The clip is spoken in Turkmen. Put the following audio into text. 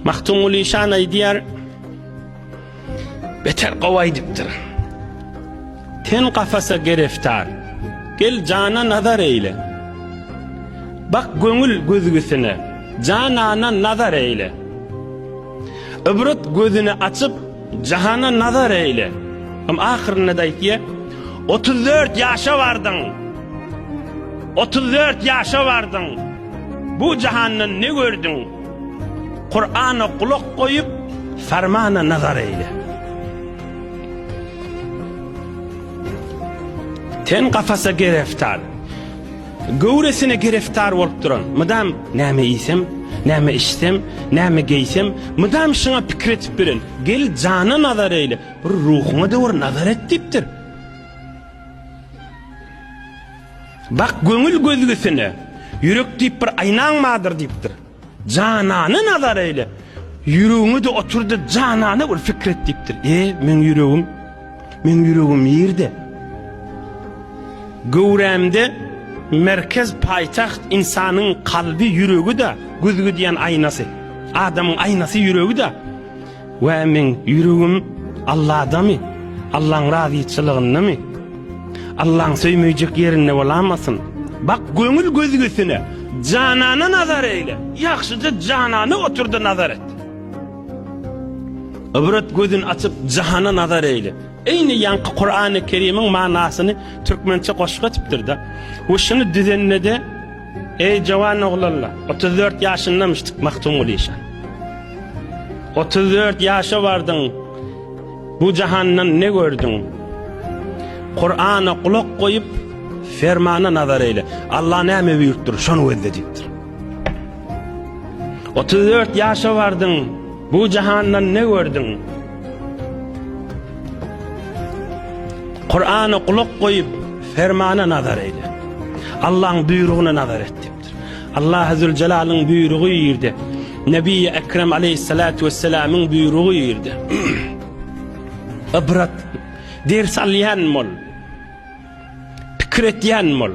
Mahtumguly şan aýdýar, beter gowaýdypdyr. Ten kafasa gereftar, gel jana nazar eýle. Bak göňül gözgüsine, janana nazar eýle. Ibrat gözüni açyp, jahana nazar eýle. Hem ahyrynda da aýdýar, 34 ýaşa bardyň. 34 ýaşa bardyň. Bu jahandan ne gördüň? Kur'ana kulak goýup, farmana nazar eýle. Ten kafasa gereftar. Göwresine gereftar bolup duran. Mydam näme iýsem, näme içsem, näme geýsem, mydam şuňa pikir etip bilen. Gel jana nazar eýle. Bir ruhuňa döwür nazar et diýipdir. Bak göňül gözgüsine, Ýürek diýip bir aýnaň bardyr diýipdir. Janana nazar eýle, Ýüregiňe-de otur-da janana bir pikir et diýipdir. E, meň ýüregim? Meň ýüregim nirde? Göwrämde merkez, paýtagt, ynsanyň kalby, ýüregi-de, gözgüdýän aýnasy. Adamyň aýnasy ýüregi-de. Wä meň ýüregim Alladamy? Allaň razyçylygyndamy? Allaň söýmejek ýerinde bolamasyn? Bak göňül gözgüsine, janana nazar eýle. Ýagşyja janana otur-da nazar et. Ybrat gözün açyp jahana nazar eýle. Eýni ýaňky Kurany Kerimiň manasyny türkmençe goşgy etipdir-de. We şuny düzende-de Eý, jowan oglanlar, otuz dört ýaşyndamyşdyk Magtymguly işan. Otuz dört ýaşa bardyň, bu jahandan ne gördüň? Kurana gulak goýup, fermana nazar eýle. Allah näme buýurtdyr, şony gözle diýipdir. Otuz dört ýaşa bardyň, bu jahandan ne gördüň? Kur'ana gulak goýup, fermana nazar eýle. Allahyň buýrugyna nazar et diýipdir. Allah Zülcelalyň buýrugy ýerde. Nebi Ekrem aleyhissalatu vesselamyň buýrugy ýerde. Ibrat ders alýan bol. Pikir etýän bol.